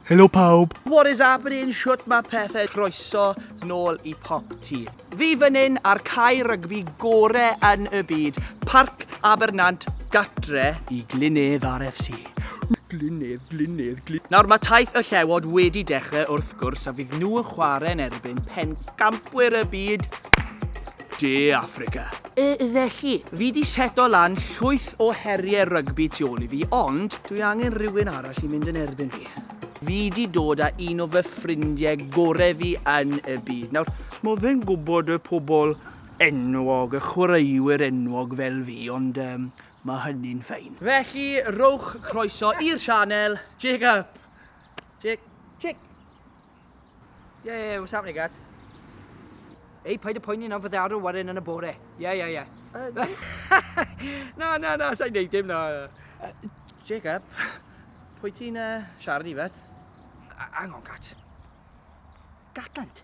Helo pawb! What is happening? Shwt mae pethau? Croeso nôl i Pop Ti. Fi fan hyn ar cae rygbi gore yn y byd, Parc Abernant, gatre i Glynedd RFC. Glynedd, Glynedd, Glynedd. Nawr mae taith y llewod wedi dechrau wrth gwrs a fydd nhw yn chwarae yn erbyn pen campwyr y byd, De Affrica. Felly, fi 'di seto lan llwyth o heriau rygbi tu ôl i fi, ond dwi angen rhywun arall i mynd yn erbyn fi. Fi 'di dod â un o fy ffrindiau gorau fi yn y byd. Nawr, mae fe'n gwybod y pobl enwog, y chwaraewyr enwog fel fi, ond um, mae hynny'n ffein. Felly, rowch croeso i'r sianel, Jacob! Jacob! Yeah, yeah, what's happening, guys? Ei, paid y poeni nawr, fydde arw waren yn y bore. Ie, ie, ie. Na, na, na, sa'n neud dim, na. Jacob, pwy ti'n uh, siarad i feth? Hang on, Gat. Gatland?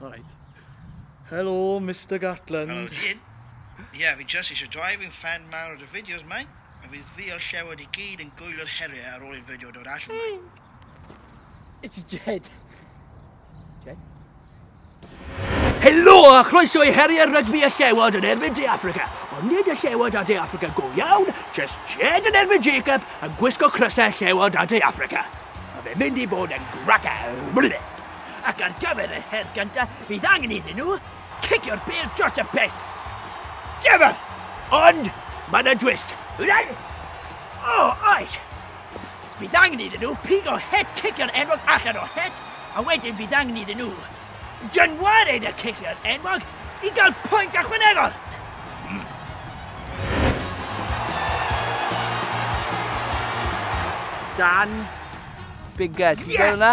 All right. Hello, Mr Gatland. Hello, Jid. Ie, yeah, fi just eisiau dweud fi'n fan mawr o dy fideos, mai. A fi ddiol llewod i gyd yn gwylio'r heriau ar ôl i'r fideo dod allan, mai. It's Jed. Jed? Helo a chroeso i heriau'r rygbi a llewod yn erbyn De Africa. Ond nid y llewod a De Africa go iawn, just Jed yn erbyn Jacob yn gwisgo crysau llewod a De Africa. A fe mynd i bod yn graca. Blydde. ac ar gyfer yr her gyntaf fydd angen iddyn nhw cicio'r bêl dros y pell. Dyma! Ond mae yna dwist. Wna'n... O, oh, oes! Fydd angen iddyn nhw pigo het cicio'r enwog allan o het, a wedyn fydd angen iddyn nhw dynwared y cicio'r enwog i gael pwynt ychwanegol. Mm. Dan Bigger, ti'n yes! gweld hwnna?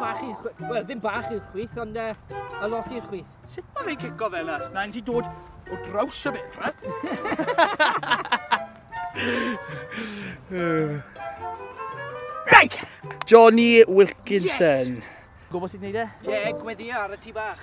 Bach i'r chwith, wel ddim bach i'r chwith, ond uh, a lot i'r chwith. Sut mae fe'n cico fe yna? Mae'n ti dod o draws y fedra. Right! Johnny Wilkinson. Yes. Gwybod sut wneud e? Ie, yeah, gweddi ar y tu bach.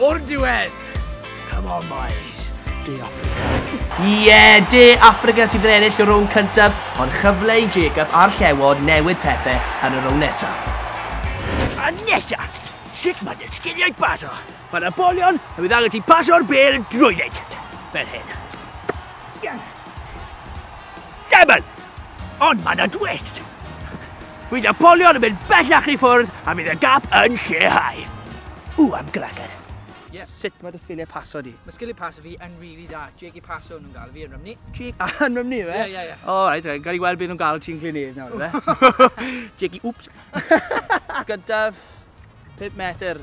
O'r diwedd! Come on, boys. De Africa. Ie, yeah, De Africa sydd yn ennill y rownd cyntaf, ond chyfle i Jacob a'r llewod newid pethau yn y rownd nesaf. A nesaf, sut mae dy sgiliau bas o? Mae yna bolion a bydd angen ti pasio'r bel drwy dweud. Fel hyn. Demon! Ond mae yna dwest. Bydd y bolion yn mynd bellach i ffwrdd a bydd y gap yn lleihau. Ww, am glagad. Yeah. Sut mae dy sgiliau paso di? Mae sgiliau paso fi yn rili really da. Jake i paso nhw'n gael fi yn rymni. Jake a yn rymni fe? Ie, ie, ie. O, right, right. Gael i weld beth nhw'n gael ti'n Glynedd nawr, fe? Jake i, wps. Gyda 5 metr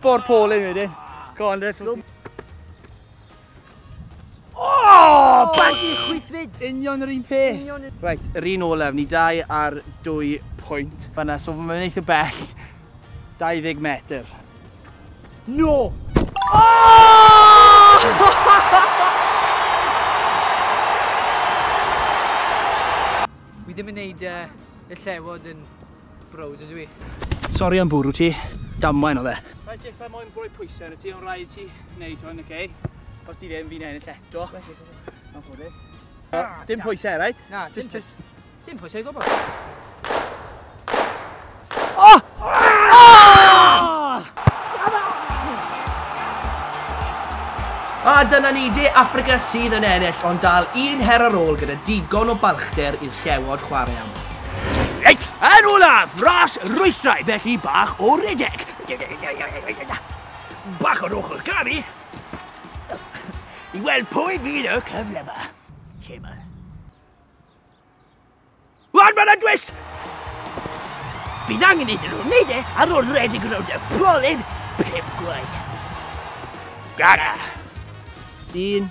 Bo'r pôl yn wedyn. Go on, let's go. Oh, baggy chwythfyd! Union yr un peth. Right, yr un olaf, ni dau ar dwy pwynt. Fanna, so mae'n mynd eitha bell. 20 metr. No! Fi ddim yn neud uh, y llewod yn Browd ydw i. Sori am bwrw ti, damwain oedd e. Mae jyst am moyn rhoi pwysau yn y ti, ond rhaid ti wneud hwn, oce? Os ti ddim, fi'n ennill eto. Mae'n ffodus. Dim pwysau, right? Na, dim pwysau. Dim pwysau gwybod. Oh! A dyna ni, de Africa sydd yn ennill, ond dal un her ar ôl gyda digon o balchder i'r llewod chwarae am. Reit, yn olaf, ras rwystrau, felly bach o redeg. Bach o'r ochr gari. I weld pwy fydd y cyfle yma. Lle yma. Wan, mae'n adwys! Bydd angen iddyn nhw wneud e ar ôl redeg rownd y polyn pip gwaith. Gara! Un,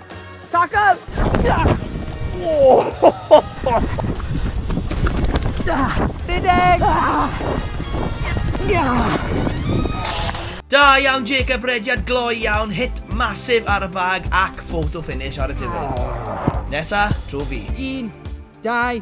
Tackle! Rhedeg! Da iawn Jacob, rediad gloi iawn, hit masif ar y bag ac photo finish ar y diwedd. Nesa, trwy fi. Un, dau,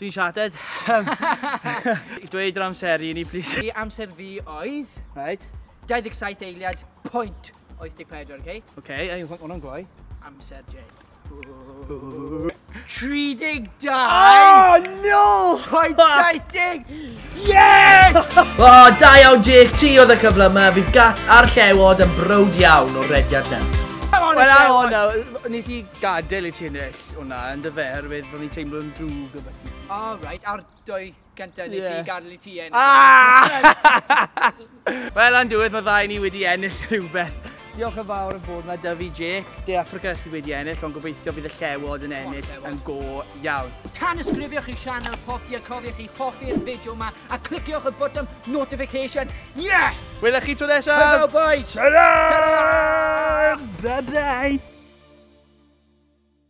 Dwi'n shattered. I dweud yr amser i ni, please. I amser fi oedd... Right. 27 eiliad, pwynt 84, oce? Okay? Oce, okay, ei, hwnna'n gloi. Amser Jay. 32! Oh, no! Pwynt 70! Yes! o, oh, da iawn Jake, ti oedd y cyfle yma. Fydd gats a'r llewod yn brod iawn o'r rediad na. Wel, ar hwnna, nes i gadael i ti ennill. O na, yndyfe, oherwydd ro'n i'n teimlo'n drwg o beth. O, oh, right, a'r dwy gyntaf nes yeah. i gadael i ti ennill. Ah! Wel, am diwedd, mae ddau ni wedi ennill rhywbeth. Diolch yn fawr yn bod yma, Dyfi Jake. De Africa sydd wedi ennill, ond gobeithio bydd y llewod yn ennill yn go iawn. Tan ysgrifiwch i sianel Potti a cofiwch i hoffi'r fideo yma a cliciwch y botwm notification. Yes! Wylech chi tro nesaf! Hwyl boys! Salam! Bye bye!